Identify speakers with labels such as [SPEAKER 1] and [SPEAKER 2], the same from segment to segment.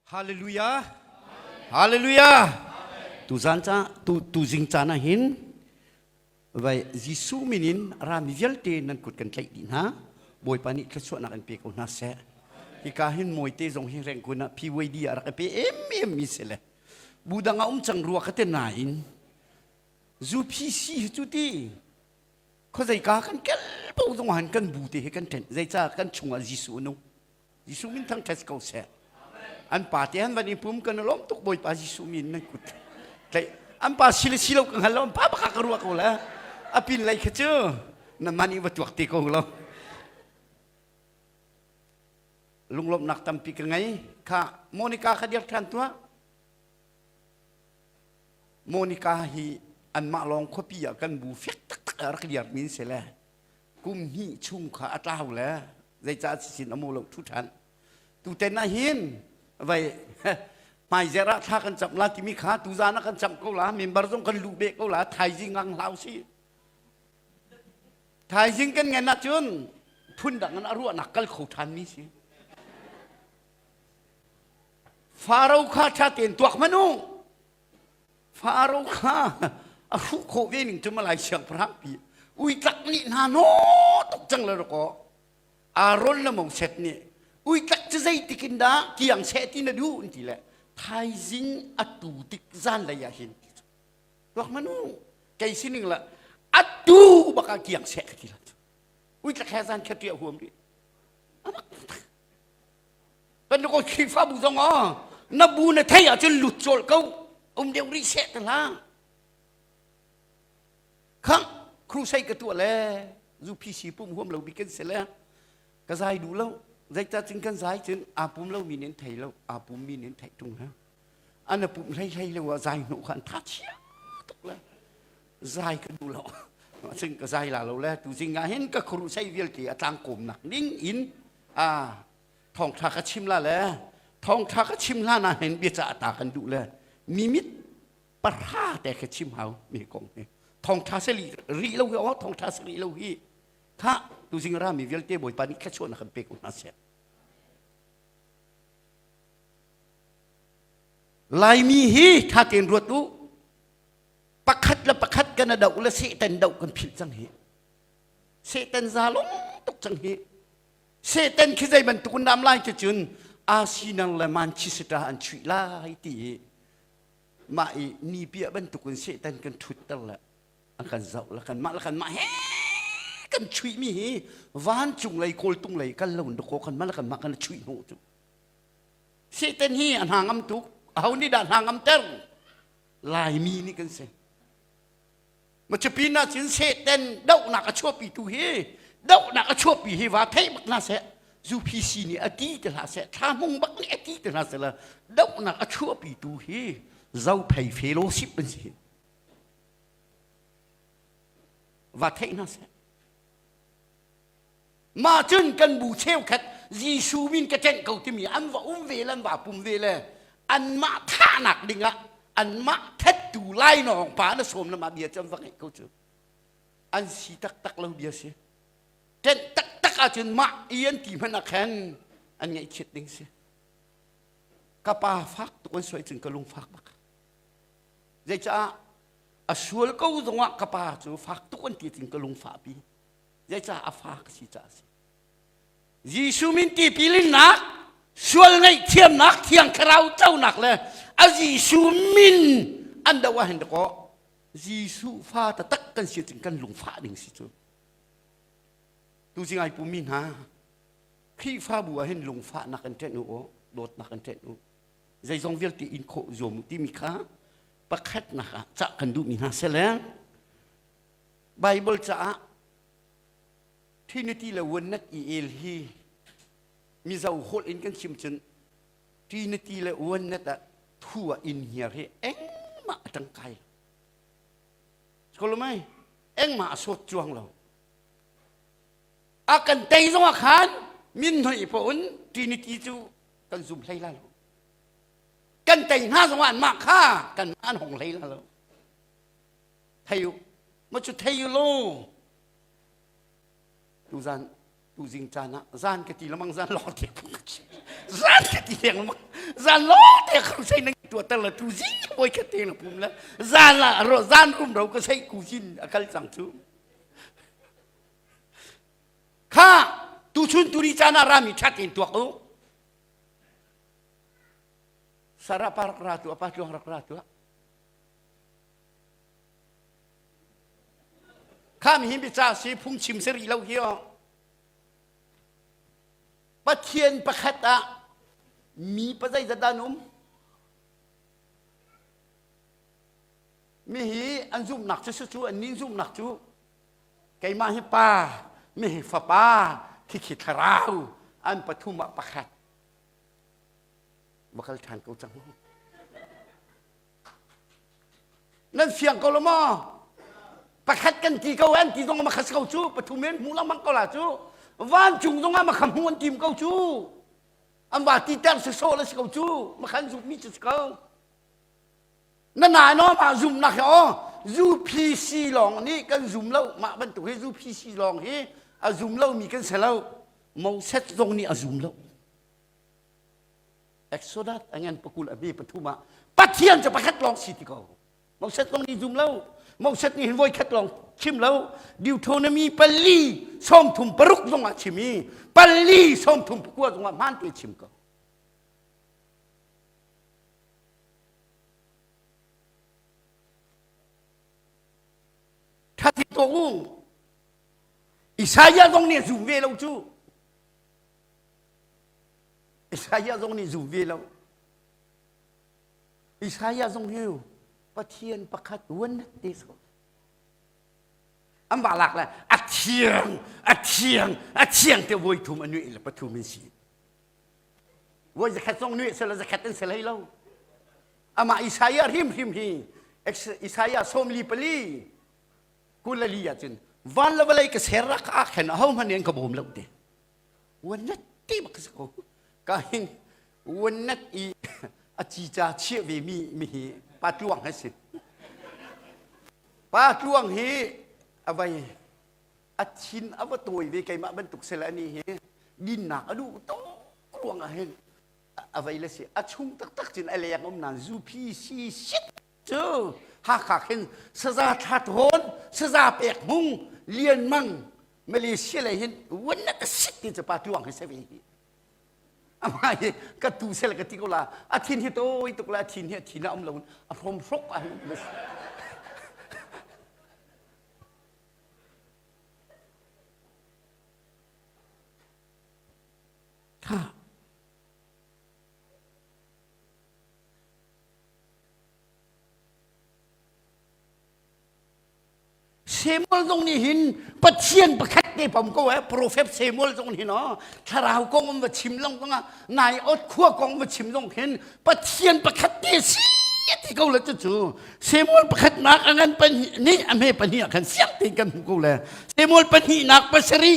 [SPEAKER 1] Hallelujah. Hallelujah. Tuzan ca tu tuzing caan ah hin vai Jesuh min in rami vialte nan kut kan tlaih dih hna. Bawipa nih thluachuahnak in pe ko hna seh. Hika hin mawite zong hi rengkun ah PYD ah rak i pe em em mi si le budang a um cang rua ka te nain zu PC hi cu ti khuazei ka kan kel po zong han kan bu te hi kan ṭhen zeica kan chungah Jesuh nu Jesuh min thangṭhat ko seh. An pa te han van i pum kan lawm tuk Bawipa Jesuh min nan kut. Tlaih an pa si le si lo ka hngal lo pa pa ka ruah ko la. A pin lei kha cu na man i va tuak te ko lo. Lunglawmhnak tampi ka ngei. Kha Monica kha dir ṭhan tuah. Monica hi anmah lawng khuapi ah kan bu fek taktak a rak liarmi se le kum hnih chung kha a tlau le zeicah si sin a maw lo thu ṭhan tuten ah hin vei hmaizer ah thla kan cam la timi kha tuzan ah kan cam ko la member zong kan lu beh ko la thaizing ang hlau si thaizing kan ngen ahcun phun dang in a ruahnak kal kho ṭhan mi si faro kha ṭha tein tuak manu Faro kha a hruh khawh ve ning cu malai siangpahrang pi ui tlak nih hna no tuk cang le rakaw Aaron le Moses nih ui tlak cu zeitik in dah kiang seh ti na duh an ti le thaizing a tu tik zan lei ah hin ti cu tuak manu kei sining la atu baka kiang seh ka ti la cu ui tlak he zan kha tia huam rih amak Kan ko khrifabu zong ah na bu na thei ahcun lut cawlh ko um deuh rih seh ta hlah khang crusade ka tuah le zu pc pum huam lo bik kan se le ka zai duh lo zeicah cun kan zai cun aa pum lo mi nen thei lo aa pum mi nen theih tung ha an a pumh hlei hlei lo ah zai hnawh kha an tha chia tuk le zai ka duh lo cun ka zai la lo le tu zing ah hin ka khuaruh sei vialte a tlang kawmnak ning in a thawngtha ka chim la le thawngtha ka chim hlan ah hin bia cah ta kan duh le mimit parha te ka chim hau mi kong hi thawngtha se li ri lo hi o thawngtha se ri lo hi tha tu zing ra mi vialte bawipa nih thla chuan kan pe ko hna se Laimi hi tha tein ruat u. Pakhat le pakhat kan a doh le Satan doh kan philh cang hi. Satan zalong tuk cang hi. Satan khi zei bantuk an nam lai cu cun asinang le manchester an chuih lai ti hi mah i ni piah bantuk in Satan kan thutter le a kan zoh le kan mah le kan mah he kan chuih mi hi vancung lei kawltung lei kal lo in dakaw kan mah le kan mah kan chuih hnawh cu Satan hi a hnangam tuk ho nih dah hnangam ter laimi nih kan si macapina cun satan dohnak a chuahpi tu hi dohnak a chuahpi hi va thei bak hna seh zuphi si nih a ti te hna seh thlahmung bak nih a ti te hna seh la dohnak a chuahpi tu hi zo phei fellowship an si va thei hna seh mah cun kan bu cheukhat Jesuh min ka ṭeng ko timi an va um ve le an va pum ve le anmah thahnak dingah anmah ṭhattu lainawng pa na sawm le mah bia cu an va ngeih ko cu an si taktak lo bia si ṭenh taktak ahcun mah i an ti hmanh ah khan an ngaihchiat ding si ka pa fak tuk an suai cun ka lung fak bak zeicah a sual ko zongah ka pa cu fak tuk an ti cun ka lung fahpi zeicah a fa ka si caah a si Jesuh min tipil innak sual ngaihthiamnak thiang thlarau conak le a Jesuh min an do ah hin dakaw Jesuh fa taktak kan si cun kan lungfah ding si cu tu si ngai pumi hna Khrihfabu ah hin lungfahnak in ṭen u aw dawtnak in ṭen u zeizong vialte in khawh zuam u timi kha pakhatnak ah cah kan duhmi hna sele Bible caah Trinity le Oneness i el hi mizo holh in kan chim cun Trinity le Oneness ah thu a in hiar hi engmah a tang kai kolomai engmah a sawt chuang lo a kan tei zong ah khan min noi pa un Trinity cu kan zum hlei la lo kan tei hna zong ah mah kha kan an hong hlei la lo thei u ma cu thei u law tu zan tu zing caan ah zan ka ti lamang zan lo te zan ka ti leng lamang zan lo te khang sei nang tua tar la tu zing poi ka te la pum la zan la ro zan rum ro ka sei ku sin akal chang chu kha tu chun tu ri cana rami chat in tuak u sarapa rak ra tu apa chuang rak ra tu Khami hi biacah si phungchim si rih lo hi oh. Pathian pakhat ah mi pa zeizat an um? Mi hi an zumnak cu su cu an nin zumnak cu keimah hi pa mi hi fapa khikhi thlarau an pathum ah pakhat. Bakal ṭhan ko cang. nan fiang ko lo maw pakhat kan ti ko an ti zong ma khas ko cu pathum in hmuh mang ko la cu vancung zong ah ma kham hmu an tim ko cu an ba ti ter se so la si ko cu ma khan zumh mi cu si ko na nai no ma zum nak hi o UPC lawng nih kan zum lo mah bantuk hi UPC lawng hi a zum lo mi kan se lo Moses zong nih a zum lo Exodus angen pakul a bi pathum ah Pathian cu pakhat lawng si ti ko Moses lawng ni zum lo Moses nih hin voi khat lawng chim lo Deuteronomy pali sawmthum paruk zong ah chim i pali sawmthum pakua zong ah hmaan te chim ko Thati to u Isaiah zong nih a zum ve lo cu Isaiah zong nih zum ve lo. Isaiah zong hi Pathian pakhat one te so an ba lak la a thiang a thiang a thiang te voi thum anu le pathum in si voi zakhat zong nu se la zakhat an se lai lo ama Isaiah hrim hrim hi Isaiah somli pali kulali ah cun van la valai ka ser rak a khen a ho man in ka bom lo te Wanat ti bak si ko. Ka hin wanat i a cica chiah ve mi mi hi Pa Tluang hi si. Pa Tluang hi a vai a thin a va tawi ve keimah bantuk sel ani hi dinnak a duh to khuang ah hin a vai le si a chung tak tak cin a leng om nan zu phi si sit cu Hakha khin saza thla thawn saza pek hmung lian mang Malaysia lei hin wannak a sit ti cu pa tuang hi se ve hi ama hi ka tu sel ka ti ko la a thin hi toi tuk la thin hi a thin a um lo a phom hrok a ha Samuel zong nih hin Pathian pakhat ne pom ko eh profet Samuel zong hin oh thlarau kong um va chim long zong ah nai ot khua kong va chim zong hin Pathian pakhat te si ti ko le cu Samuel pakhat nak angan pahnih ni ame pahnih ah khan siang te kan hmu ko le Samuel pahnih nak pasari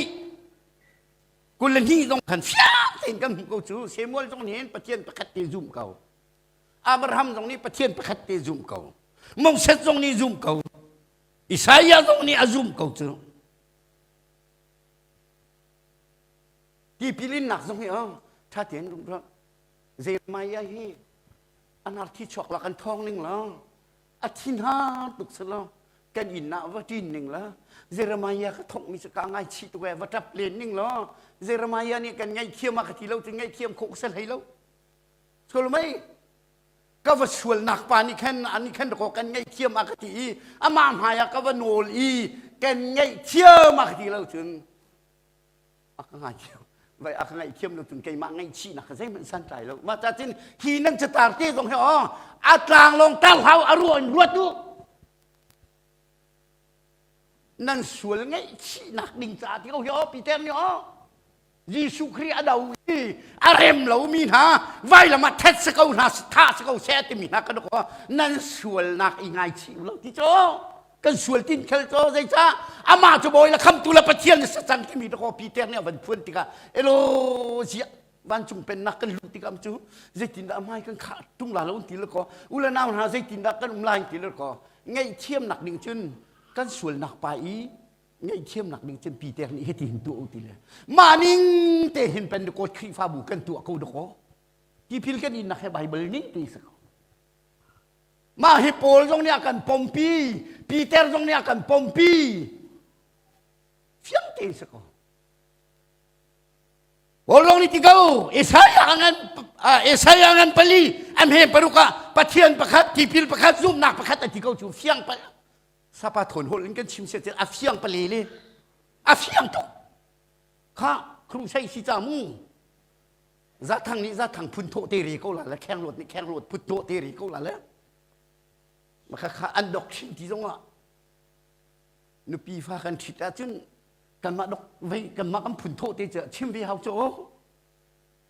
[SPEAKER 1] kul ni zong khan siang te kan hmu ko cu Samuel zong hin Pathian pakhat te zum ko Abraham zong nih Pathian pakhat te zum ko. Moses zong nih zum ko. Isaiah zong nih a zum ko cu. Tipilinnak zong hi oh, ṭha tein rumrah. Jeremiah hi anarthi chuak la kan thawng ning la. A thin har tuk si lo. Kan inn ah va ṭin ning la. Jeremiah ka thawk mi cu ka ngai chi tu va ṭap len ning la. Jeremiah nih kan ngaithiam a ka ti lo ti ngaithiam khawh ka sal hei lo. Sulmei ka va sualnak pa nih khan ani khan dakaw kan ngaih thiam a ka ti i amah hmaiah ka va nawl i kan ngaih thiam a ka ti lo cun a ka ngaithiam vai a ka ngaihthiam lo cun keimah ngaihchihnak ka zeihmanh santlai lo mah ta cun hi nan catar te zong hi aw a tlanglawng tar hlau a ruah in ruat u nan sual ngaihchihnak ding caah ti ko hi aw Peter nih aw Jesuh Khrih a do i a rem lomi hna vailam ah ṭhet si ko hna thah si ko seh timi hna kan nan sualnak i ngaichih u law ti cu kan sual tin khel cu zeicah amah cu bawi la khamtu le pathian nih sacan timi dako Peter nih a van phuan tikah elo ziah vancung pennak kan luh tikah cu zeitindah mai kan khah tung la lo ti le ko u le nau hna zeitindah kan um lai ti le ko ngaih thiamnak ning cun kan sualnak pa i ngaihthiamnak ding cun pi tek nih hiti hin tuah u ti le mah ning te hin pen de coach khrihfabu kan tuah ko dakaw tipil kan in nak he bible ning tu isa ko mah hi paul zong nih a kan pompi peter zong nih a kan pompi fiang te isa ko Paul rong ni tikau Isaiah ngan Isaiah ngan pali am he paruka pathian pakhat tipil pakhat zumnak pakhat ati kau cu fiang pal sapa thawn hol in kan chim se a fiang pale le a fiang tuk kha khrum sai si cha mu za thang nih za thang phun thawh te re ko la la kheng rot nih kheng rot phut thawh te re ko la la ma kha kha an dok shin ti zong ah nupi fa kan thit a cun kanmah dok vei kanmah kan phun thawh te chim ve hau cho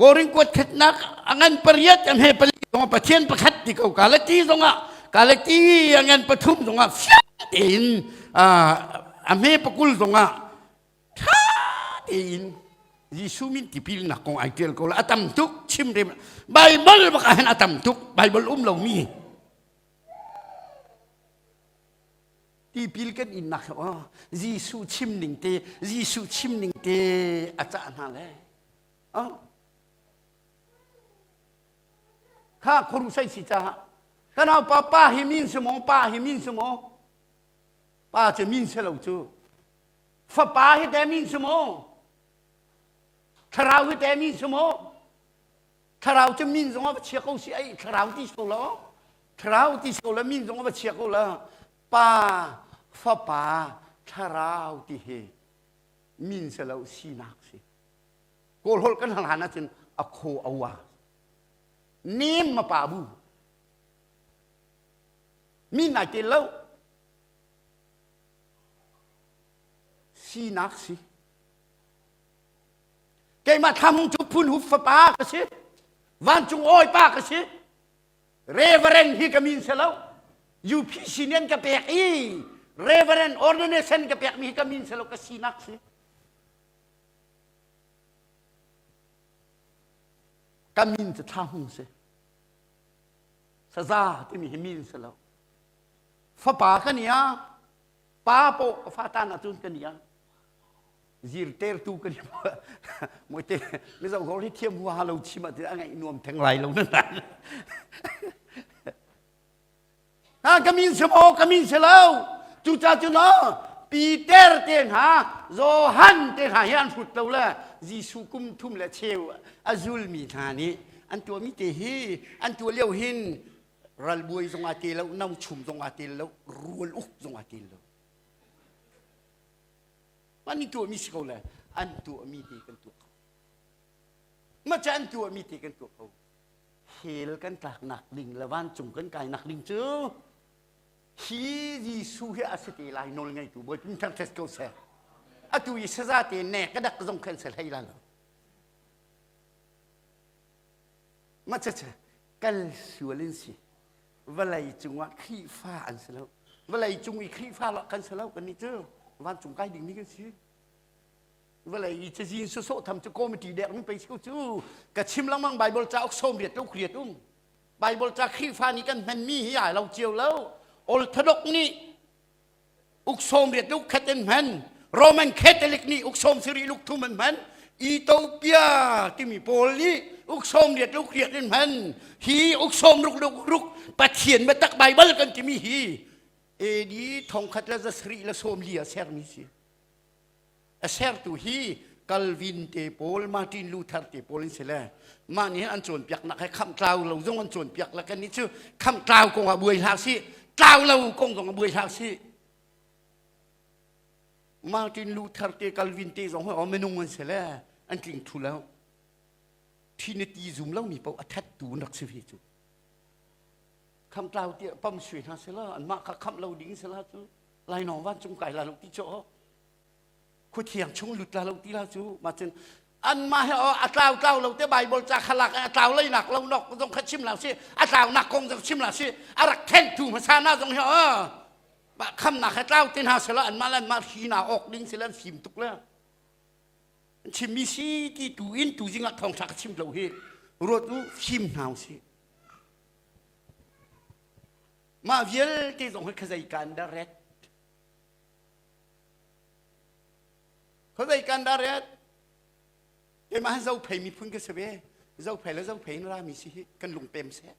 [SPEAKER 1] Korin kuatkhatnak a ngan pariat an he pali zong Pathian pakhat ti ko Galati zong ah Galati a ngan pathum zong ah fiate in a hme pakul zong ah ṭha tein Jesuh min tipilnak kong ai ṭial ko la a tam tuk chimrem Bible bak ah hin a tam tuk Bible um lo mi tipil kan innak he oh Jesuh chim ning te Jesuh chim ning te a cah hna le kha khurum sai si caah ka naupa pa hi min si maw pa hi min si maw pa cu min si lo cu fapa hi te min si maw thlarau hi te min si maw thlarau cu min zong a chia ko si ai thlarau ti so lo thlarau ti so la min zong a chia ko la pa fapa thlarau ti hi min si lo sinak si kawlholh kan hlan hlan ahcun a khaw a wa nem ma pa bu mi nai te lo sinak si keimah thlam cu phun hup fapa ka si vancung oi pa ka si reverend hi ka min se lo UPC nian ka pek i reverend ordination ka pek mi hi ka min se lo ka sinak si ka min cu thla hung si saza timi hi min si lo fapa ka ni a pa po ka fa ta na cun ka ni a zir ter tu ka ni mui te mi zong hor hi thiam hua lo chim a ti a ngaih nuam theng lai lo na nan ka min si maw ka min si lo cucacun o Peter te hna Johan te hna hi an hrut lo le Jesuh kum thum le cheu a zulmi hna nih an tuahmi te hi an tuah lio hin ralbuai zongah te lo no chum zongah te lo rual uk zongah te lo man ni tuahmi si ko le an tuahmi te kan tuah ko maca an tuahmi te kan tuah ko hell kan tlaknak ding le vancung kan kainak ding cu hi Jesuh hi a si te lai nawl ngeitu bawi pin thang thet ko seh atu i saza te ne ka dak zong khen se hlei la lo ma cha cha kal sual in si vawlei cungah khrifa an si lo vawlei cung i khrifa lo kan si lo kan ni cu vancung kai ding ni kan si vale i cazin su so tham cu committee dek mi pei cheu cu ka chim langmang bible ca ok som riat lo khriat um bible ca khrifa ni kan hman mi hi ai lo chiu lo ol thadok ni uk som riat lo khat en hman roman catholic ni uk som siri luk thum an hman ethiopia timi pawl nih uk som riat lo khriat en hman hi uk som ruk ruk ruk pathian matak bible kan timi hi edi thong khat la zasri la som lia ser mi si A sertu hi Calvin te pawl, Martin Luther te pawl an si le mah nih an cawnpiaknak he khamh tlau lo zong an cawnpiak lak nih cu khamh tlau kong ah buai hlah sih tlau lo kong zong ah buai hlah sih Martin Luther te Calvin te zong hi minung an si le an tling thu lo trinity zum lo mi paoh a that tu rak si fi cu khamh tlau tiah pam sui hna sela an mah kha khamh lo ding sela cu lainawng van cung kai la lo ti cho khuathiang chung lut la lo ti la cu ma cun anmah he a tlau tlau lo te bible ca khalak a tlau lei nak lo nok zong kha chim la si a tlau nak kong zong chim la si a rak khen tu hmasa na zong hi kham nak he tlau te hna sela anmah lan ma hi na ok ding silan fim tuk le chimmi si ti tu in tu jingah thong thak chim lo hi ruat u fim hnaw si Mah vialte zong hi khazei kan dah ret? Khazei kan dah ret? Keimah zo phei miphun ka si ve. Zo phei le zo phei in rami si hi kan lung pem seh.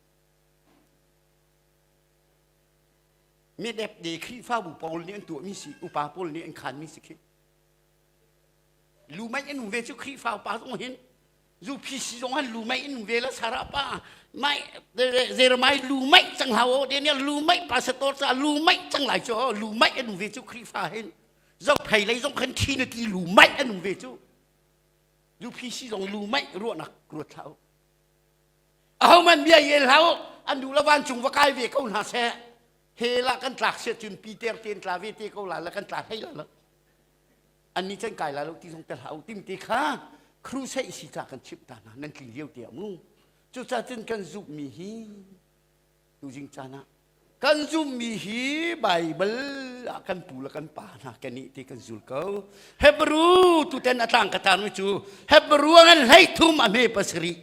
[SPEAKER 1] Mi dep de Khrihfa bu pawl nih an tuahmi si, upa pawl nih an khanmi si khi. Lu mei an hung ve cu Khrihfa upa zong hin zu phi si zong an lu mei in vela sara pa mai zer mai lu mei cang hau o daniel lu mei pasator ca lu mei cang lai cho lu mei anu ve chu khrifa hin zok phei lei zong khan khi na ki lu mei anu ve chu zu phi si zong lu mei ruanak ruat hau ahau man bia yel hau andu lavan chung va kai ve ko na se hela kan tlak se chun pi ter ten tla ve te ko la la kan tla thei la Anni can kai la lo ti zong te hlah u tim ti kha crusade si ca kan chimh ta hna nan tling lio te ah mu cucaah cun kan zumhmi hi tuzing caan ah kan zumhmi hi Baibal ah kan pu le kan pa hna kan nih ti kan zul ko Hebrew tuten a tlang ka tarmi cu Hebrew ngan hlei thum a hme pasari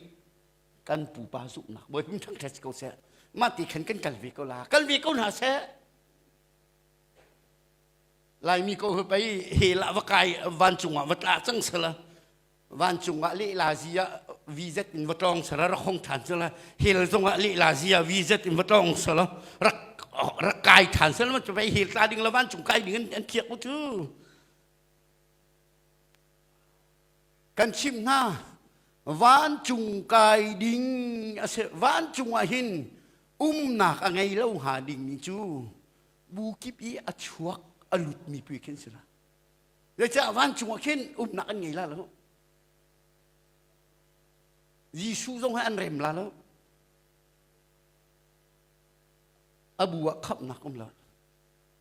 [SPEAKER 1] kan pupa zumhnak bawi hum thang ṭhet ko seh mah ti khan kan kal ve ko la kal ve ko hna seh Laimi ko hi pei he la va kai van cungah va tla cang sala van cungah le la zia vz in va tlong sala rak hong than sala hel zongah le la zia vz in va tlong sala rak rak kai than sala ma chu pei hel tla ding la van cung kai ding an, an thiak u chu kan chim hna van cung kai ding ase van cungah hin umnak a ngei lo ha ding mi cu bu kip i a chuak a lutmi pui khin si la zeicah van chungah khin umnak an ngei la lo Jesuh zong he an rem la lo a bu ah khamhnak um lo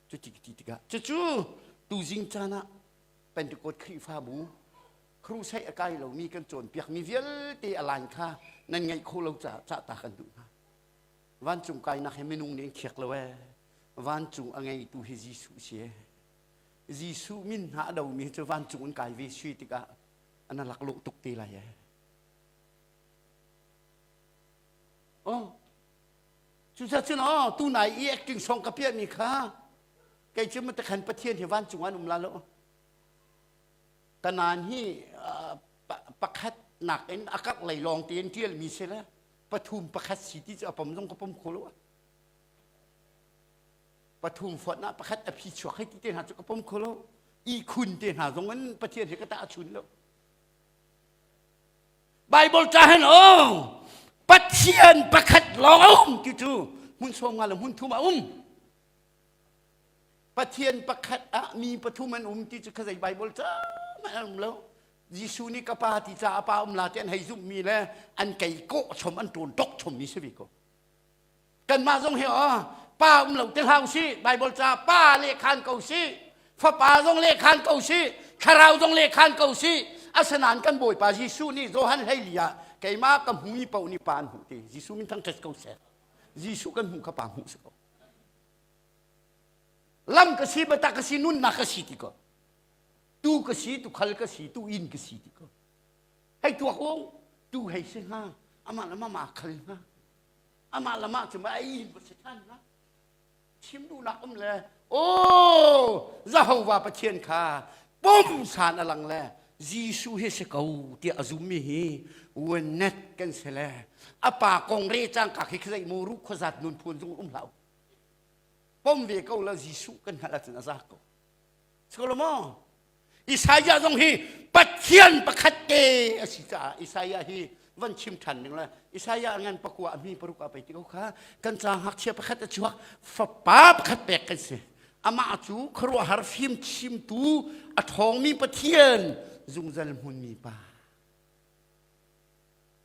[SPEAKER 1] cuti ti tikah cucu tuzing caan ah Pentecost Khrihfabu crusade a kai lomi kan cawnpiakmi vialte a line kha nan ngaih khawh lo caah cah ta kan duh hna Vancung kainak hi minung nih an khiak lo ee. Vancung a ngeitu hi Jesuh si ee. Jesuh min hna a domi cu vancung an kai ve si tikah an laklawh tuk te lai ee. Oh, cucacun oh tunai i ekking song ka piahmi kha kei cu matakhan Pathian hi vancung an um la lo. Kanan hi uh, pakhat nakin a karh lei lawng tein ṭialmi si le pathum pakhat si ti cu a pom zong ka pom kho lo pathum fuat na pakhat a phi chuak hai ti te hna cu ka pom kho lo i khun te hna zong in pathian he ka ta chun lo bible ta han o pathian pakhat lawng a um ti cu hmun suam nga le hmun thum a um Pathian pakhat ah mi pathum an um ti cu kha zei Baibal cang an um lo. Jesuh nih ka pa ti ca a pa um la ti an hei zumhmi le an kei kawh chom an ṭun dok chommi si ve ko. Kanmah zong hi oh, pa um lo te hlau si, Baibal ca pa lehkhan ko si, fapa zong lehkhan ko si, thlarau zong lehkhan ko si, asinain kan Bawipa Jesuh nih Johan hleili ah keimah ka hmumi paoh nih pa an hmuh ti. Jesuh min thang ṭhet ko seh. Jesuh kan hmuh ka pa hmuh si ko. lam ka si bata ka si nunnak ka si ti ko tu ka si tu khal ka si tu in ka si ti ko hei tuak u tu hei si nga amah lama ma khal nga amah lama cuma ai ba si than na chim du nak um le o Jehovah Pathian kha pum san alang le Jesuh hi si ko tiah a zum mi hi wenet kan si le a pa kong re cang ka khi khzai mu ru khozat nun phun zung um hlau pom ve ko la Jesuh kan hal cun a za ko solo mo Isaiah zong hi Pathian pakhat te a si caah Isaiah hi van chim ṭhan ding le Isaiah ngan pakua a mi paruk a pei ti ko kha kan ca ngakchia pakhat a chuak fapa pakhat pek kan si amah cu khuaruahhar fim chimtu a ṭhawngmi Pathian zungzal hmunmi pa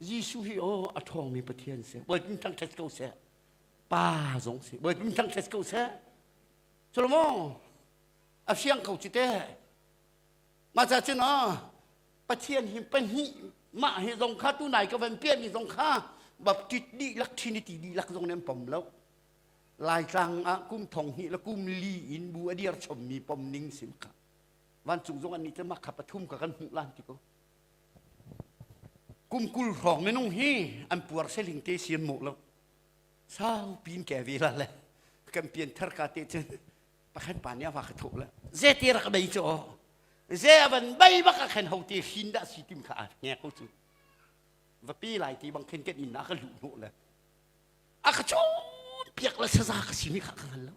[SPEAKER 1] Jesuh hi o a ṭhawngmi Pathian si bawitin ṭangṭhat ko seh pa zong si bawitin ṭangṭhat ko seh culo maw a fiang ko ci te mah ca cun o Pathian hi pahnih mah hi zong kha tu nai ka van piahmi zong kha baptit dihlak trinity dihlak zong nih an pom lo laitlang ah kum thong hi la kum li in bu a dir chommi pom ning sim kha vancung zong an nih te mah kha pathum ka kan hmuh lan ti ko kum kul hrawng minung hi an puar seling te sian mo lo sau pin ke ve la le kan pian thar ka te cun pakhan pa nih a va ka thuk le ze te rak bei cho ze avan bai bak a khen ho te hrin da si tim kha a nge ko cu va pi lai ti bang khen ken in na ka lu hnu le a ka chun piak la saza ka si mi kha ka hal lo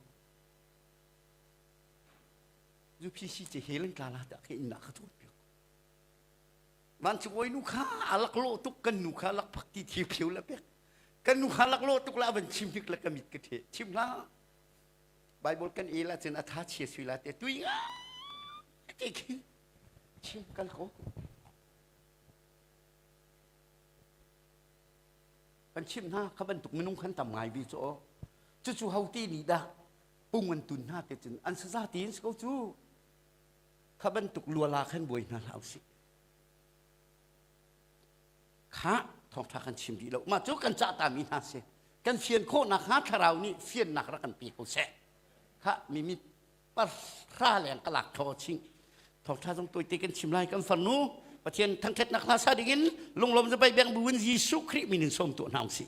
[SPEAKER 1] zu phi si che helen ka la da ke in na ka tu piak man chu oi nu kha alak lo tuk kan nu kha lak phak ti thi phiu la pek kan nu kha lak lo tuk la avan chim hik la kamit ka the chim la Bible kan el ahcun a tha chia sui la te tui nga ti khi chi kal ko kan chim hna ka bantuk minung kan tam ngai bi cu cucu hauti ni dah pung an tun hna te cun an saza ti in ko cu ka bantuk luala khan buai hna hlah usih Kha thawngṭha kan chim dih lo. Mah cu kan cah tami hna si. Kan fian khawhnak hnga thlarau nih fiannak rak kan pe ko seh. Kha mimi parhra leng ka lak thaw ching. Thawngṭha zong tawite kan chim lai kan farnu. Pathian thangṭhatnak hna sa dingin lunglawm zapai beng buin Jesuh Khrih min in sawm tu hna usih.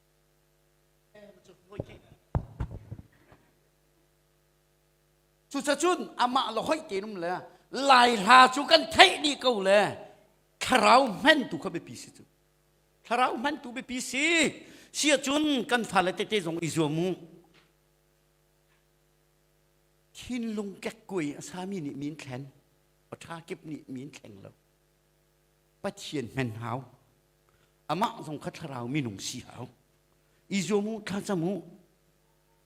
[SPEAKER 1] Cucacun amah le hoih tenum le lai hla cu kan theih ni ko le thlarau hmentu kha biapi si cu thlarau hmentu biapi si sia cun kan fale tete zong i zuam u thinlung kekkuai a sami nih min thlen paṭha kip nih min thleng lo pathian hmen hau amah zong kha thlarau minung si hau i zuam u thlacam u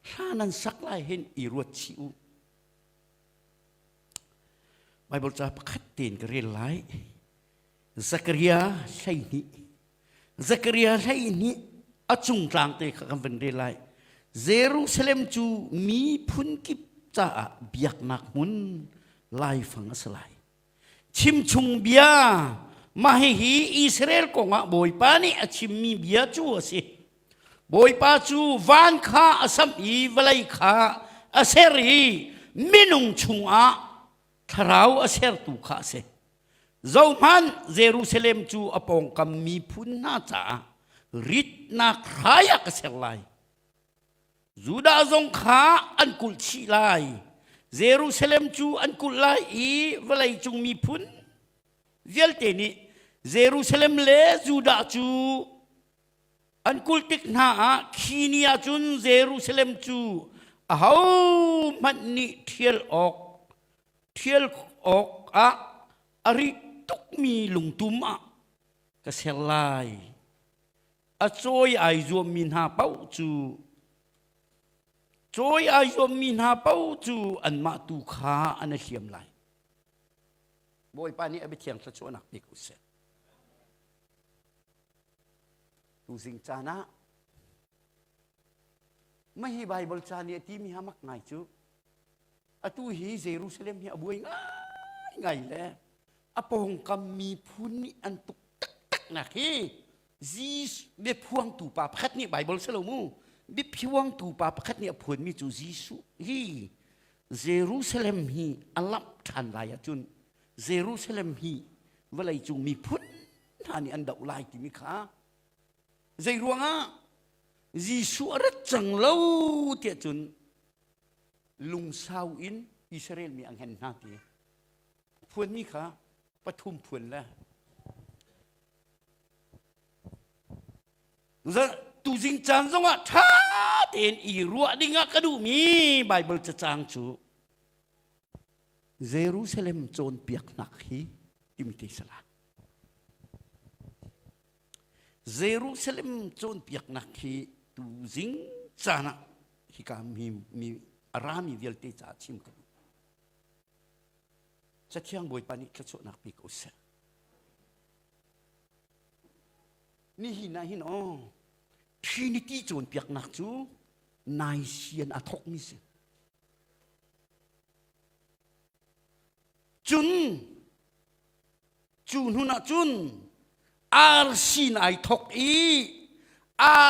[SPEAKER 1] hla nan sak lai hin i ruat chih u Bible ca pakhat tein ka rel lai Zakaria hleihnih Zakaria hleihnih a cung tlang te kha kan van rel lai Jerusalem cu mi phun kip caah biaknak hmun laifang a si lai chimchung bia mah hihi Israel kong ah Bawipa nih a chimmi bia cu a si Bawipa cu van kha a samh i vawlei kha a ser i minung chungah thlarau a sertu kha a si zohman Jerusalem cu a pawngkam miphun hna caah ritnak hrai ah ka ser lai Judah zong kha an kulh chih lai. Jerusalem cu an kulh lai i vawleicung miphun vialte nih Jerusalem le Judah cu an kulh tik hna ah khi ni ah cun Jerusalem cu ahohmanh nih ṭhial awk ṭhial awkah a ri tukmi lungtum ah ka ser lai. a cawi ai zuammi hna paoh cu cawi ai zuammi hna paoh cu anmah tu kha an a hriam lai bawipa nih a biathiang thla cuanak bik usih tuzing caan ah mahi bible ca nih a timi ha mak ngai cu atu hi jerusalem hi a buai ngai ngai le a pawngkam miphun nih an tuk taktak nak hi Jesuh biaphuangtu pa pakhat nih Baibal si lo mu biaphuangtu pa pakhat nih a phuanmi cu Jesuh hi Jerusalem hi a lamh ṭhan lai ahcun Jerusalem hi vawleicung miphun hna nih an doh lai timi kha zei ruangah Jesuh a rat cang lo tiah cun lungsau in Israel mi a ngen hna ti phuanmi kha pathum phuan le tuzing caan zongah ṭha tein i ruah dingah ka duhmi Baibal cacang cu Jerusalem cawnpiaknak hi imte sala Jerusalem cawnpiaknak hi tuzing caan ah hika mi, mi rami vialte caah chim ka duh Cathiang Bawipa nih thluachuahnak pe ko seh Nihin ah hin aw Trinity cawnpiaknak cu naisian a thokmi si. Cun cu hnun ah cun RC na ai thok i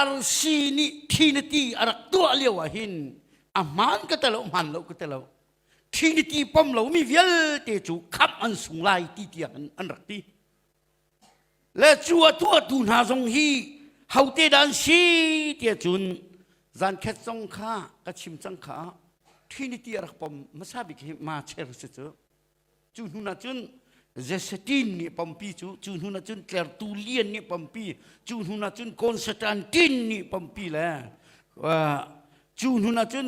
[SPEAKER 1] RC nih Trinity a rak tuah lio ah hin a hmaan ka telo hmaan lo ka telo Trinity pom lomi vialte cu khamh an sung lai ti tiang an, an rak ti. Le cu a tuahtu hna zong hi hote dah an si tiah cun zan khet zong kha ka chim cang kha Trinity a rak pom hmasa bik hi ma cher si cu. Cu hnu ah cun Zesetin nih pampi cu cu hnu ah cun Tlertu Lian nih pampi cu hnu ah cun Constantin nih pampi le uh, cu hnu ah cun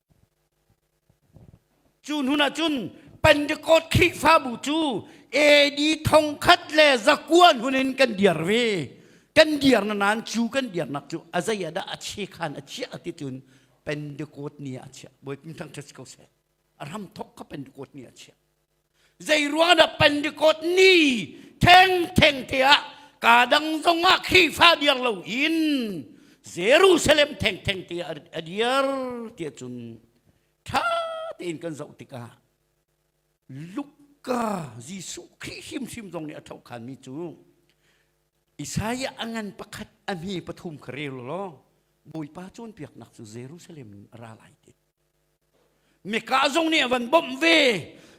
[SPEAKER 1] Cu hnun ahcun Pentecost Khrihfabu cu AD thongkhat le zakuan hun in kan dir ve. Kan dir na nan cu kan dirnak cu a zei ah dah a che khan a chiah ti cun Pentecost ni ah a chiah. Bawi pin thang ṭhet ko seh. A ram thok kha Pentecost ni a chiah. Zeiruang dah Pentecost ni thengtheng te ah ka dang zong ah Khrihfa diang lo in Jerusalem thengtheng te ah a dir tiah cun ṭha tein kan zoh tikah Luka Jesuh Khrih hrimhrim zong nih a thokhanmi cu Isaiah a ngan pakhat a hme pathum kha rel law Bawipa cawnpiaknak cu Jerusalem in a ra lai ti Mika zong nih a van bawmh ve.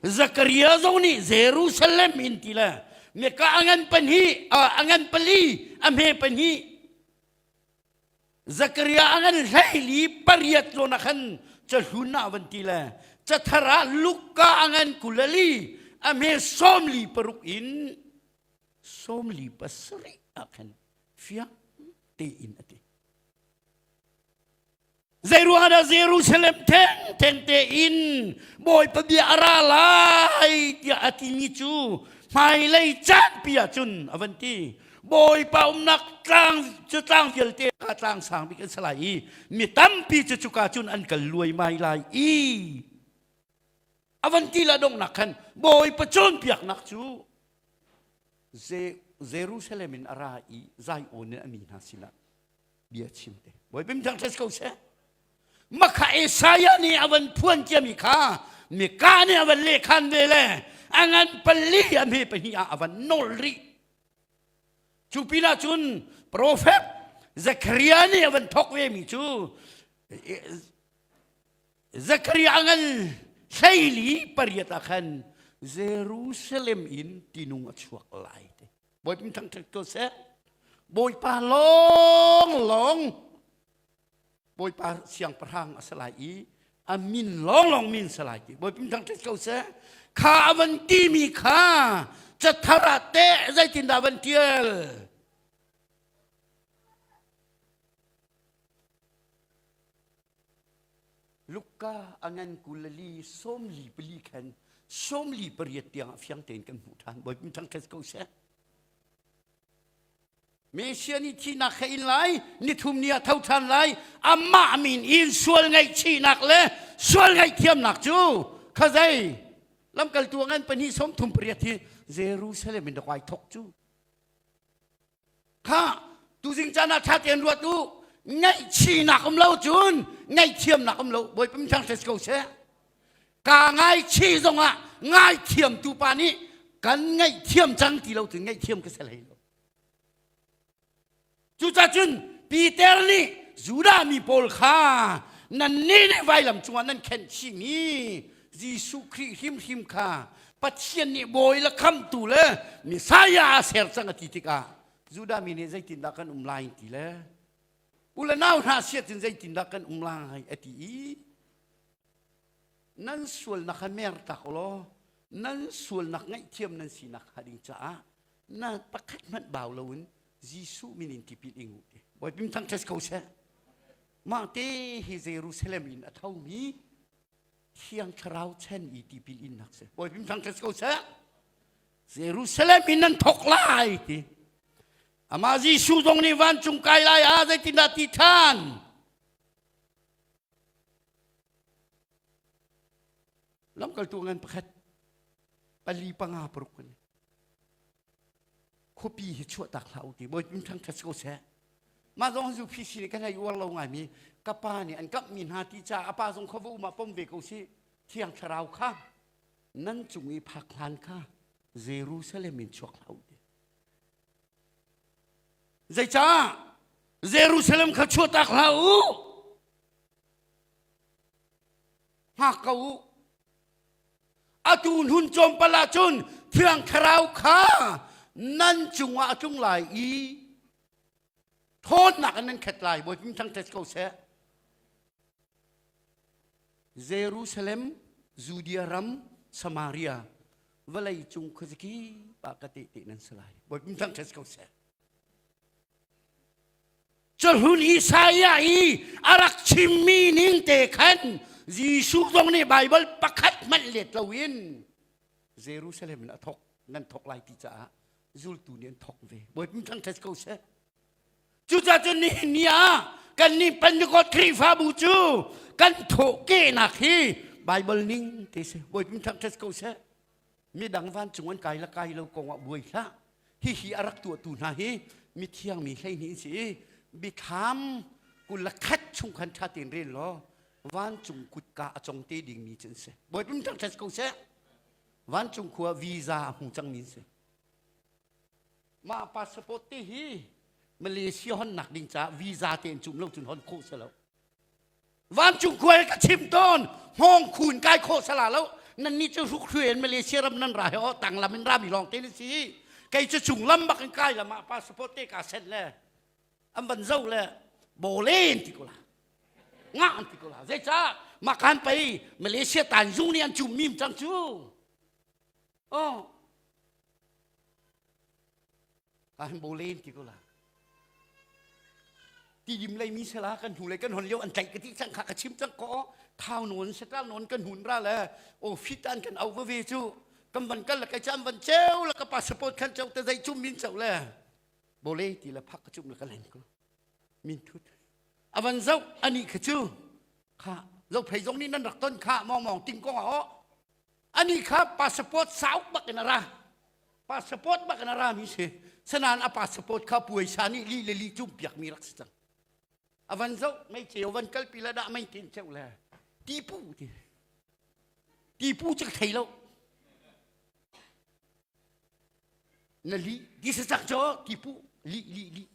[SPEAKER 1] Zakaria zong nih Jerusalem in ti le Mika a ngan pahnih a ngan pali a hme pahnih Zakaria a ngan hleili pariat zawn ah khan cahlun ah van ti le cathar ah Luka a ngan kulali a hme sawmli paruk in sawmli pasarih ah khan fiang tein a ti. Zeiruangah Jerusalem thengtheng tein Bawipa bia a ra lai tiah a timi cu hmailei caanpi ah cun a van ti. Bawipa umnak tlang cu tlang vialte kha tlang sang bik an si lai i mi tampi cu cuka cun an kal luaimai lai i a van ti la donghnak khan Bawipa cawnpiaknak cu Jerusalem in a ra i Zion in a mi hna sinah bia chim te bawi bim thang tes ko se makha Isaiah nih avan phuan tiami kha mika nih avan lekhan ve le angan pali ami pahni ah avan nol ri cu pinah cun profet Zechariah nih avan thok ve mi cu Zechariah angan hleili pariat ah khan Jerusalem in tinung a chuak lai te bawi pin thang ṭhek ko seh bawipa lawng lawng bawipa siangpahrang a si lai i a min lawng lawng min si lai ti bawi pin thang ṭhek ko seh kha a van timi kha cathar ah teh zeitindah van ṭial Luka a ngan kulali sawmli pali khan sawmli pariat tiangah fiang tein kan hmuh ṭhan. Bawi min ṭhang khes ko seh. Mesia nih thihnak he in lai, nithum ni ah tho ṭhan lai, amah min in sual ngaihchihnak le sual ngaihthiamnak cu kha zei lamkaltu ngan pahnih sawm thum pariat hi Jerusalem in rak ai thok cu kha tuzing caan ah ṭha tein ruat u ngaihchihnak um lo cun ngaihthiamnak um lo bawi pamthang si ko seh kaa ngaichih zongah ngaithiamtu pa nih kan ngaihthiam cang ti lo cun ngaihthiam ka si hlei lo cucacun Peter nih Judah mi pawl kha nannih nih vailam cungah nan khenhching i Jesuh Khrih hrimhrim kha Pathian nih bawi le khamtu le Messiah a ser cang a ti tikah Judah mi nih zeitindah kan um lai ti le u le nau hna siatin zeitindah kan um lai a ti i nan sualnak kha mer tak law nan sualnak ngaihthiam nan sinak hnga ding caah na pakhat hmanh bau loin Jesuh min in tipil ing u bawi pim thang ṭhes ko seh mah te hi Jerusalem in a thomi Thiang Thlarau chan i tipil innak si. Bawi pim thang ko seh. Jerusalem in nan thok lai ti. Amah Jesuh zong nih vancung kai lai ah zeitindah ti than? Lamkaltu ngan pakhat pali panga paruk kan khuapi hi chuahtak hlah u ti bawitmin ṭhang ṭha si ko seh mah zong zu phi sin kan ei uar lo ngaimi ka pa nih an kamhmi hna ti caah a pa zong khuava um ah pom ve ko si thiang thlarau kha nan cung i phak hlan kha Jerusalem in chuak hlah u ti zeicah Jerusalem kha chuahtak hlah u hngak ko u atu hlun cawmpal ahcun thiang thlarau kha nan cungah a tlung lai i thawtnak in nan khet lai bawi pim thang tet ko seh jerusalem judea ram samaria vawlei cung khuazaki pa ka te te nan si lai bawi pim thang tet ko seh Cuhlun Isaiah i a rak chimmi ning te khan Jesuh zong nih Baibal pakhat hmanh let loin Jerusalem in a thawk nan thawk lai ti caah zultu nih an thawk ve. Bawi pum thang ṭhes ko seh. Cucacun nihin ni ah kannih Pentecost Khrihfabu cu kan thawhkehnak hi Baibal ning te si. Bawi pum thang ṭhes ko seh. midang vancung an kai la kai lo kong ah buai hlah hihi a rak tuahtu hna hi mithiang mi hleihnih si i bikham kul khat chung khan ṭha tein rel law vancung kutka a cong te dingmi cu an si bawi pum ṭang ṭhat ko seh vancung khua visa a hmu cangmi si mah passport te hi malaysia honnak ding caah visa te in cum lo cun hon khawh si lo vancung khual ka chim tawn hngawng khun kai khaw sala lo nan ni cu hruk hru in malaysia ram nan ra he o tang lam in ra mi lawng te ni si kei cu chung lam bak in kai lam ah passport te ka set le an van zo le bolen ti kula nga an ti kula zei ca makan pei malaysia tan zung ni an cum mim cang cu oh an bo len ti ko la ti dim lei mi sela kan hnu le kan hon leo an tlaih ka ti cang kha ka chim cang ko thau non setal non kan hun ra le o fit an kan au ve chu kan van kal la kai cham van cheu la ka passport khan cheu te dai chum min cheu le bole ti la phak ka chum la ka len ko min thut avan zau ani kha chu kha lo phei zong ni nan rak ton kha mong mong ting ko o Ani kha passport sauk bak in a ra. Passport bak in a rami si. Sanan a passport kha puaisa nih li le li cung piakmi rak si cang. Avan zoh, mei ceu van kalpi la dah mei tin cheu le. Tipu ti. Tipu cak thei lo. Na li, this is cak cho, tipu, li, li, li.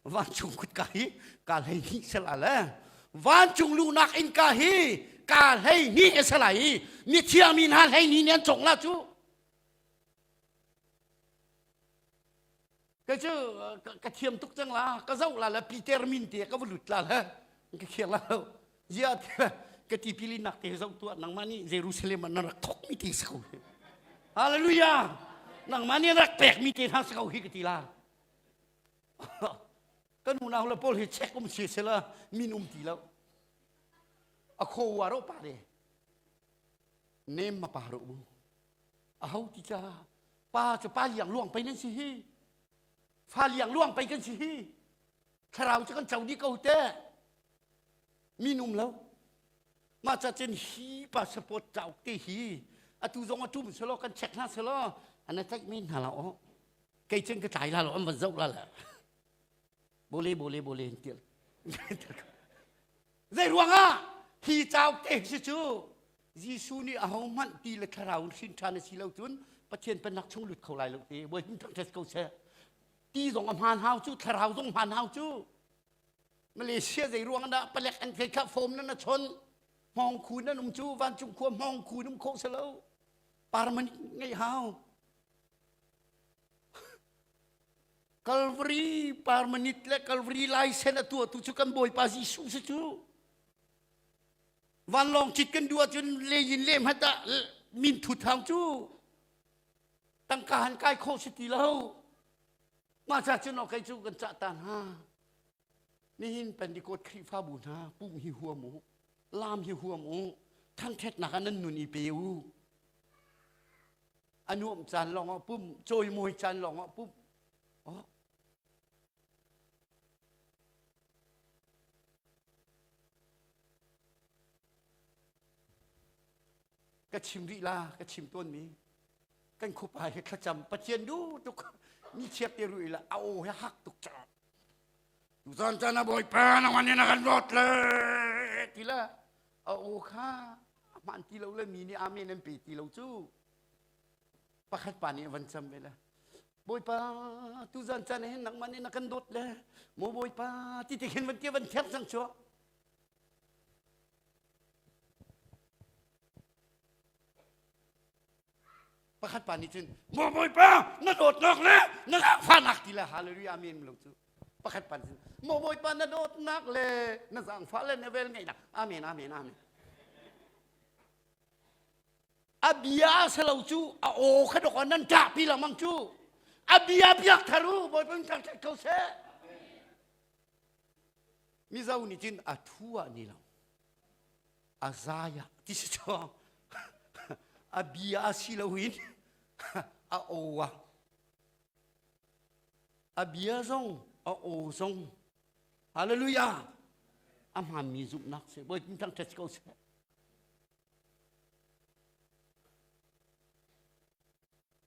[SPEAKER 1] Vancung kutka hi ka hlei hnih sela le vancung luhnak innka hi ka hlei hnih a si lai i ni thiangmi hna hlei hnih nih an cong la cu kei cu ka thiam tuk cang la ka zoh la le peter min te ka va lut la le ka khiang la lo Ziah ka tipi li nak te zoh tuah nangmah nih Jerusalem ah na rak thok mi te si ko Hallelujah nangmah nih rak pek mi te hna si ko hi ka ti la kan unau la paul hi check um si sela min um ti lo a kho wa ro pa le nem ma pa ro mu a ho ti cha pa chu pa liang luang pe nan si hi fa liang luang pe kan si hi thlarau chu kan chau di ko te Minum lo. Mah cacun hi passport cauk te hi atu zong a tum selaw kan check hna selaw an a tlaih men hna la aw. Kei cen ka tlai la lo an van zoh la la. Bole bole bole an tial. Zei ruangah hi cauk te si cu Jesuh nih aho hmanh ti le thlarau in hrin ṭhan a si lo cun Pathian pennak chung lut kho lai lo te. Voi hin ṭang ṭes ko seh. Ti zong a hmaan hau cu, thlarau zong hmaan hau cu. Malaysia zeiruang ah dah palek an kai kha fom nan a chon hmawng khu nan um cu vancung khua hmawng khu um kho se lo parmani ngei hau Calvary parmanit le Calvary laisen a tua tu cu kan Bawipa Jesuh se cu vanlawng cit kan duh ahcun leyin le hmat ah min thut hau cu tangka han kai kho si ti lo Mahca cun aw kei cu kan cah ta hna. Nihin Pentikot Khrihfabu hna pum hi huam u, lam hi huam u, thangthatnak ah nan nun i pe u. A nuam caan lawng ah pum, cawimawi caan lawng ah pum. Oh. ka chim rih la ka chim tawnmi kan khupa hi thlacam pathian du tuk ni chiap te ru ila a o he hak tuk cha tu zan chan a boi pa na wan na kan rot le tila a o kha man ti lo le mi ni amen an pe ti lo chu pakhat pa ni van cham ve la boipa tu zan chan hen nak man na kan dot le mo boipa ti ti khin van tia van thiam sang chuo Pakhat pa nih cun, Maw Bawipa, na dawtnak le na zaangfahnak ti le hallelujah amen lo cu. Pakhat pa nih cun, Maw Bawipa, na dawtnak le na zaangfah le na vel ngaihnak amen, amen, amen. A bia se lo cu a aw kha dok nan ṭahpi lengmang cu. A bia biak thar u, Bawipa in ṭang ṭhat ko seh. Mizo nih cun a ṭhu ah ni lo, a zai ah ti si chawng, a bi ah si lo in a o ah, a bia zong a o zong, hallelujah, a hmaanmi zumhnak seh, bawi tin thangṭhat ko seh.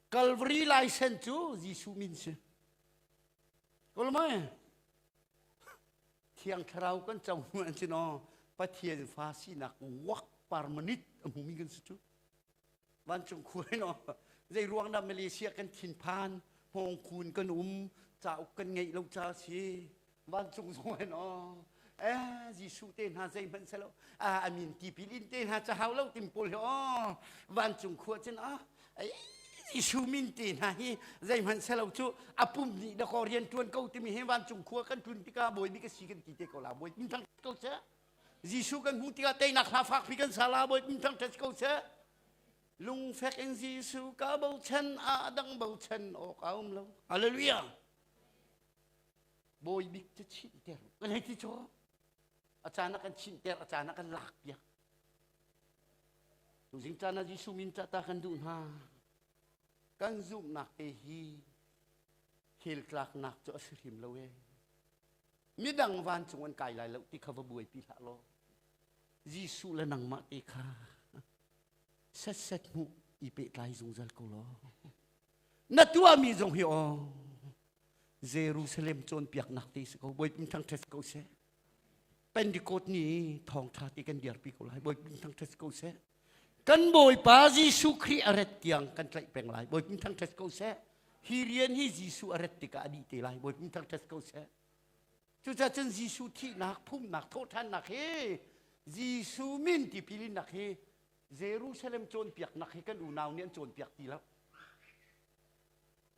[SPEAKER 1] Kalvari laisen cu Jesuh min si. Kawl mai. Thiang thlarau kan co hnu an si no Pathian fa sinak wak parmanit a hmumi kan si cu. Vancung khuai no zei ruang dah Malaysia kan thin phan hmong kun kan um cauk kan ngeih lo ca si vancung zung in aw eh Jesuh te hna zeihmanh se lo a amin tipil in te hna cahau lo tim paul hi aw vancung khua cin ah Jesuh min te hna hi zeihmanh se lo cu apum ni da ko rian tuan ko timi he vancung khua kan tun tikah bawi mi ka si kan ti te ko la bawi min thang ko che Jesuh kan hmu tikah teinak hla fak pi kan sala bawi min thang tet ko che lungfek in Jesuh ka bochan a dang bochan awk a um lo hallelujah bawibik cu chinhter a ngei ti cu a caan ah kan chinhter a caan ah kan lakpiak tuzing caan ah Jesuh min ca ta kan duh hna kan zumhnak te hi khel tlaknak cu a si hrim lo e midang van cung an kai lai lo ti kha va buaipi hlah law Jesuh le nangmah te kha set set hmu i pehtlai zungzal ko law na tuahmi zong hi aw Jerusalem cawnpiaknak ti si ko bawi thang ṭhet ko seh Pentecost ni thawngṭha ti kan diarpi ko lai bawi thang ṭhet ko seh kan bawipa Jesuh Khrih a ret tiang kan tlaih peng lai bawi thang ṭhet ko seh hi rian hi Jesuh a ret tikah a dih te lai bawi thang ṭhet ko seh cucaah cun Jesuh thihnak phumnak thawhṭhannak hi Jesuh min tipil hi Jerusalem cawnpiaknak hi kan unau nih an cawnpiak ti lo.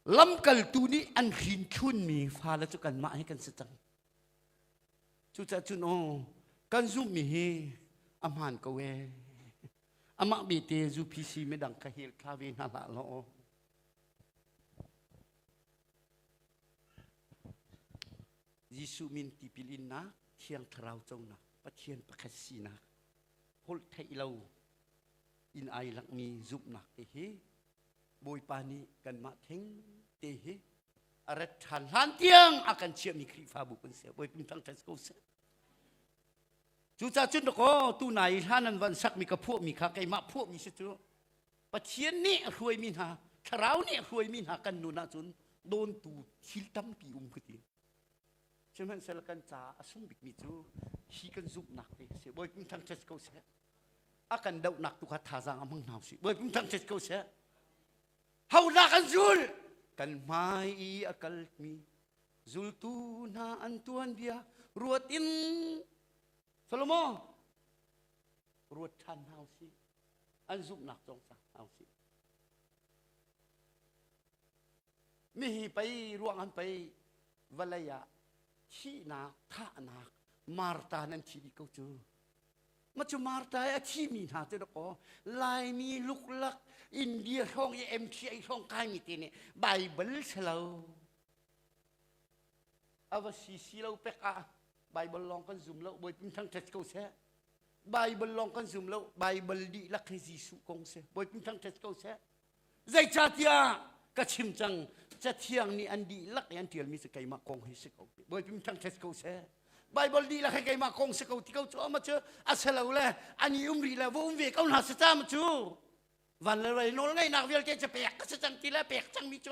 [SPEAKER 1] Lamkaltu nih an hrin chunmi fale cu kanmah hi kan si cang. Cucaah cun aw kan zumhmi hi a hmaan ko ee. Amah bete ZUPC midang ka hel thla ve hna hlah law. Jesuh min tipil innak, thiang thlarau conak, Pathian pakhat sinak holh theih lo in ai langmi zumhnak te hi Bawipa nih kanmah theng te hi a rat ṭhan hlan tiang a kan chiahmi Khrihfabu kan si. Bawi pin thang ṭhan ko seh. Cucacun dakaw tu nai hlan an van sakmi ka phuahmi kha keimah phuahmi si cu Pathian nih a hruaimi hna thlarau nih a hruaimi hna kan nun ahcun dawntu thil tampi um ka ti. Sihmanhsehlaw kan caah a sung bikmi cu hi kan zumhnak te a si. Bawi Pum Thang ṭhet ko seh. A kan dohnak tu kha thazaang a hmang hna usih. Bawi Pum Thang ṭhet ko seh. Honak an zul kan hmai i a kalmi zultu hna an tuanbia ruat in Solomo ruat ṭhan hna usih. An zumhnak cawng sa hna usih. Nihi pei ruangan pei vawlei ah thihnak, thahnak, Marta nan thi dih ko cu. Ma cu Marta i a thimi hna cu dakaw Laimi luklak India hrawng i MTA hrawng kaimi te nih Baibal si lo. A va si si lo pek ah Baibal lawng kan zum lo bawi pin thang ṭhet ko seh. Baibal lawng kan zum lo Baibal dihlak hi Jesuh kong si bawi pin thang ṭhet ko seh. Zeicatiah ka chim cang cathiang nih an dihlak i an ṭialmi cu keimah kong hi si ko bawipim ṭhang ṭhes ko seh Bible dihlak he keimah kong si ko ti ko cu ama cu a se lo le ani um rih le va um ve ko hna si ta ma cu van le rel nawl ngaihnak vialte cu pek ka si cang ti le pek cangmi cu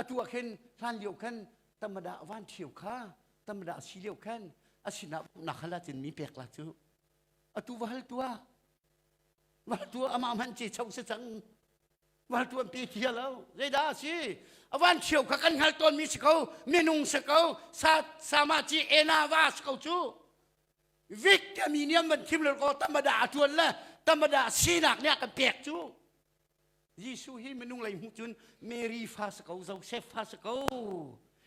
[SPEAKER 1] atu ah khin hlan lio khan tamada van ṭhio kha tamada si lio khan a sinah nakhal cin mi pek la cu atu va hal tu ah va tu amah man ce chau se cang va tu an pe thia lo zeidah si avan ṭhio kha kan hngal tawn mi si ko minung si ko sa sama ci ena va si ko cu vik a mi niam man khim lo ko tamada atuan le tamada sinak nih kan pek cu Jesuh hi minung lei hmuh cun Mary fa si ko, Joseph fa si ko,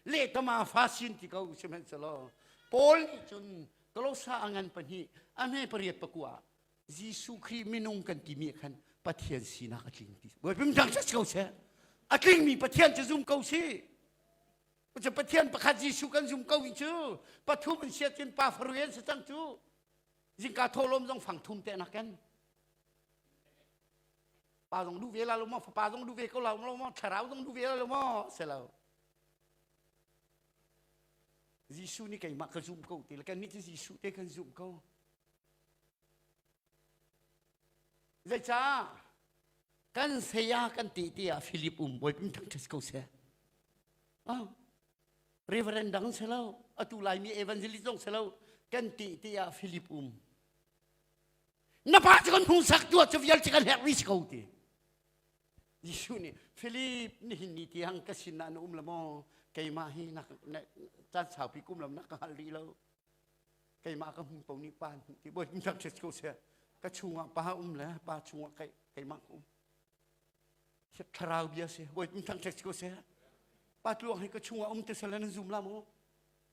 [SPEAKER 1] lehtama fa sin ti ko sihmanhsehlaw Paul nih cun Kolossa a ngan pahnih a hme pariat pakua ah Jesuh Khrih minung kan timi ah khan Pathian sinak a tling ti buaipim dang si ko seh a tlingmi Pathian cu zum ko si Pathian pakhat Jesuh kan zum ko hi cu pathum an siat cun pa faru an si cang cu zingka tholom zong fang thum te nak kan Pa zong duh ve la lo maw fapa zong duh ve ko lo maw thlarau zong duh ve la lo maw se lo Jesuh nih keimah ka zumh ko ti le kan nih cu Jesuh te kan zumh ko zeicah kan saya kan ti ti ah Philip um boi pim thang ṭhes ko se ah reverend dang se lo atu lai mi evangelist dong se lo kan ti ti ah Philip um na pa cu kan hmuhsak tu cu vial cu kan herh rih si ko ti Jesuh nih Philip nihin ni tiang ka sin ah na um lo maw keimah hi na caan saupi kum lam na ka hal rih lo keimah ka hmu ko ni pa ni ti boy tak ches ko se ka chungah pa um le pa chungah kai keimah um si thlarau bia se boy tak ches ko se pa tluang hi ka chungah um te sala na zum la mu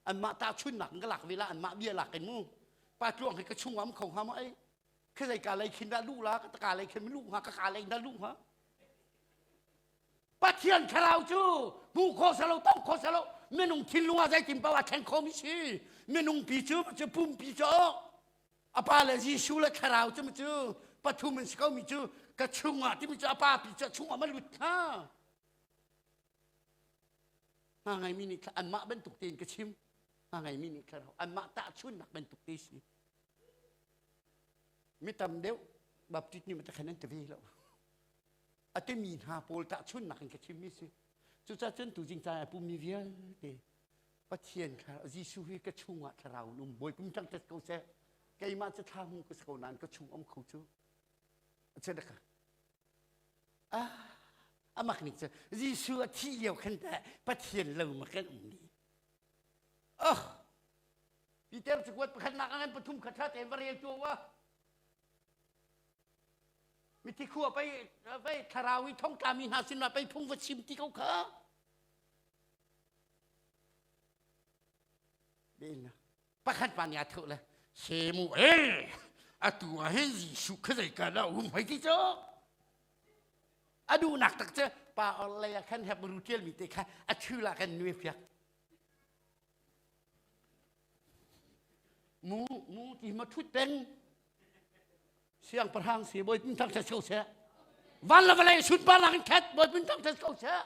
[SPEAKER 1] anmah tahchunnak in ka lak ve la anmah bia lak in mu pa tluang he ka chung am kho hnga ma ei khe zei ka lei khin da lu la ka ka lei khin lu hnga ka ka lei da lu hnga pathian thlarau cu bu kho salo tau kho salo minung thin lunga zei tin pawa then kho mi si minung pi cu cu pum pi cu a pa le Jesuh le thlarau cu cu pathum in si ko mi cu ka chung ah timi cu a pa pi cu a chung ah ma lut hnga Nga ngeimi nih anmah bantuk tein ka chim. Nga ngeimi nih ka rau. Anmah tahchunnak bantuk te si. Mi tam deuh baptist nih matakhan an te ve lo. Ate mi hna pawl tahchunnak in ka chimmi si. Cucaah cun tu jing cai a pumi vialte Pathian kha Jesuh hi ka chungah thlarau in um bawi kum tang tet ko seh. Keimah cu thla hmu ka so nain ka chung om kho cu. A cedaka. ah amak nih cun Jesuh a thih lio khan tah Pathian lo ma kan ummi oh Peter cakuat pakhatnak ah khan pathum khat hra tein va rel tuah wa mithi khua pei pei thlarau i thongtla mi hna sinah pei phung va chim ti ko kha Bena pakhat pa nih a thawh le semu e atu ah hin Jesuh kha zeikal ah um hei ti cu a duhnak tak cu pa orlei ah khan hep ru ṭial mi te kha a chul ah kan nuai fiak mu mu ti ma ṭhut peng siangpahrang si bawi pun thang ṭhat ko seh van le vawlei sunparnak in khat bawi pun thang ṭhat ko seh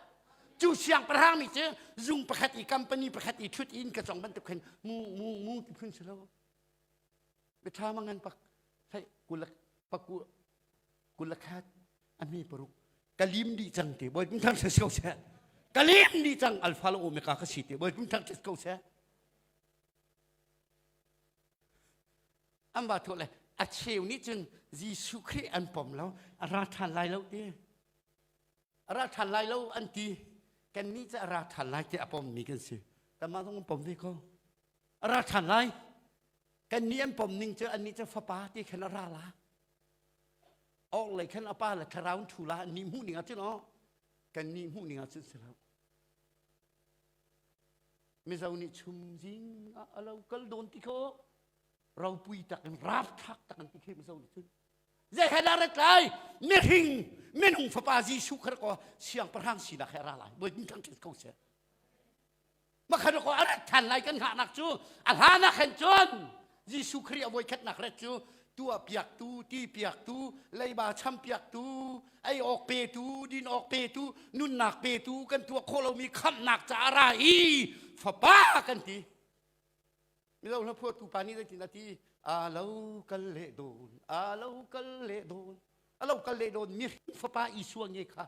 [SPEAKER 1] cu siangpahrang mi cu zung pakhat i company pakhat i ṭhut in ka cong bantuk khin mu mu mu ti phun si lo biṭha mangan pak sai kulak paku kulakhat ami paruk kalim di cang te bawi pun thang ṭhat ko seh kalim di cang alfa lo omega ka si te bawi pun thang ṭhat ko seh an va thawh le a cheu nih cun Jesuh Khrih an pom lo a ra ṭhan lai lo ti a ra ṭhan lai lo an ti kannih cu a ra ṭhan lai tiah a pommi kan si tamah zong an pom ve ko a ra ṭhan lai kannih an pom ning cu annih cu fapa ti khan a ra la orhlei khan a pa le thlarau an ṭhu la annih hmuh ning ah cun o kannih hmuh ning ah cun si lo mizo nih chum zing ah a lo kal dawn ti kho ropui tak in ralthlak tak an ti khem zo nih cun zei he la ret lai mihring minung fapa jesuh khar ko siangpahrang sinak he ra lai voi din thang ko se makhan ko a rat than lai kan ngah nak cu a hlan ah khen cun jesuh kri a voi khat nak ret cu tua piak tu ti piak tu leiba cham piak tu ei awk pe tu din awk pe tu nunnak pe tu kan tua kho lomi khamnak ca ra i fapa kan ti Milo hlaphuatu pa nih zeitin a ti? A lo kal le dawn, a lo kal le dawn, a lo kal le dawn mihring fapa Isua nge kha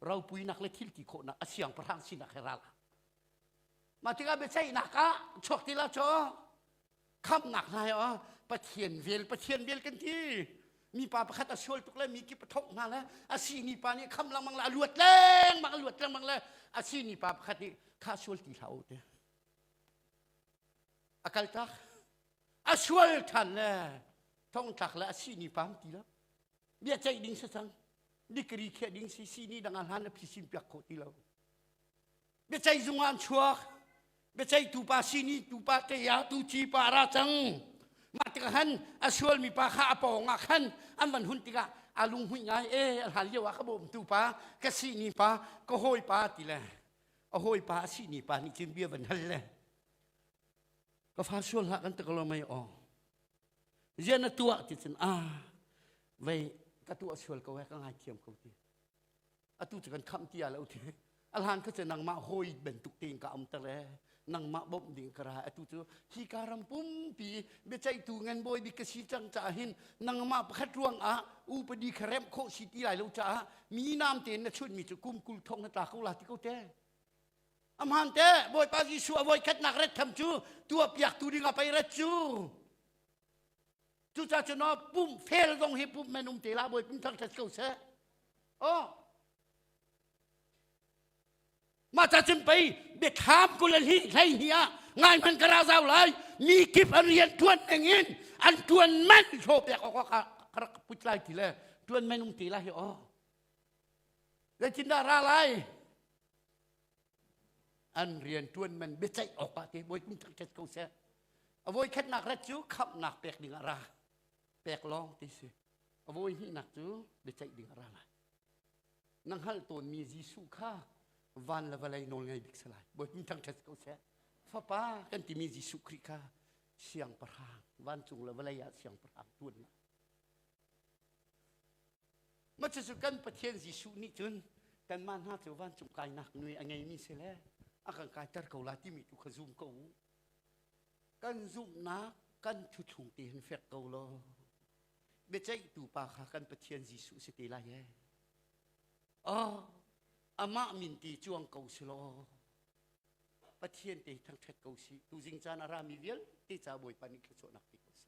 [SPEAKER 1] ropuinak le thilti khawhnak a siangpahrang sinak he ral a Mah tikah biaceihnak ah chuak ti la chaw khamnak hna he oh, Pathian vel Pathian vel kan ti mipa pakhat a sual tuk le mi kip a thawk hna le a sini pa nih kham lengmang le a luat lengmang a luat lengmang le a sini pa pakhat nih kha sual ti hlah u ti A kaltak a sual ṭhan le thongtlak le a sini pam ti lo bia ceih ding si cang dikri khiah ding si sini dang ah hlan a phisin piak khawh ti lo biaceih zung an chuak biaceih tupa sini tupa teya tu ci pa ra cang mah tikah han a sual mi pa kha a pawng ah khan an van hun tikah a lunghui ngai e a hlan lio ah ka bawm tu pa ka sini pa ka hawi pa ti le a hawipa a sihni pa nih cun bia van hal le ka fa sual hlah kan tuk lo mai aw zian na tuah ti cun a vei ka tuah sual ko he ka ngai thiam ko ti atu cu kan khamh ti a lo ti a hlan kha cu nangmah hawi bantuk tein ka um ta le nangmah bawmh ding ka ra atu cu hi ka ram pumpi biaceihtu ngan bawi bik ka si cang caah hin nangmah pakhat ruang ah upadi kha remh khawh si ti lai lo caah mi naam tein na chunh mi cu kum kul thong na tla ko la ti ko te amhan te bawipa jesuh a voi khatnak ret tham cu tua piak tu ding a pei ret cu cucaah cu no pump fel zong hi pump men um te la bawi pum thang tat ko seh oh Mah ta cun pei biathlam kul a hlei hnih ah ngai hman ka ra zau lai mi kip an rian ṭuan ning in an ṭuan manh hlaw piak awk ah ka rak put lai ti le ṭuan manh um ti lai hi aw zeitindah ra lai an rian ṭuan man biaceih awk ah ti bawi kum tak ṭet ko seh a voi khatnak rat cu khamhnak pek ding ah ra pek lawng ti si a voi hnihnak cu biaceih ding ah ra lai Na hngalh tawnmi Jesuh kha van le vawlei nawlngei bik si lai. Bawipa thangṭhat ko seh. Fapa kan timi Jesuh Khrih kha siangpahrang, vancung le vawlei ah siangpahrang tuan lai. Macucu kan Pathian Jesuh nih cun kanmah hna cu vancung kainak nui a ngeimi si le a kan kaiter ko la timi tu kha zum ko u. Kan zumhnak kan thuthlung te hin fek ko law biaceihtu pa kha kan Pathian Jesuh si te lai ee. Oh, amah min ti cuang ko si law Pathian te thangthat ko si tu jing caan a rami vialte ca Bawipa nih thluachuahnak ti ko si.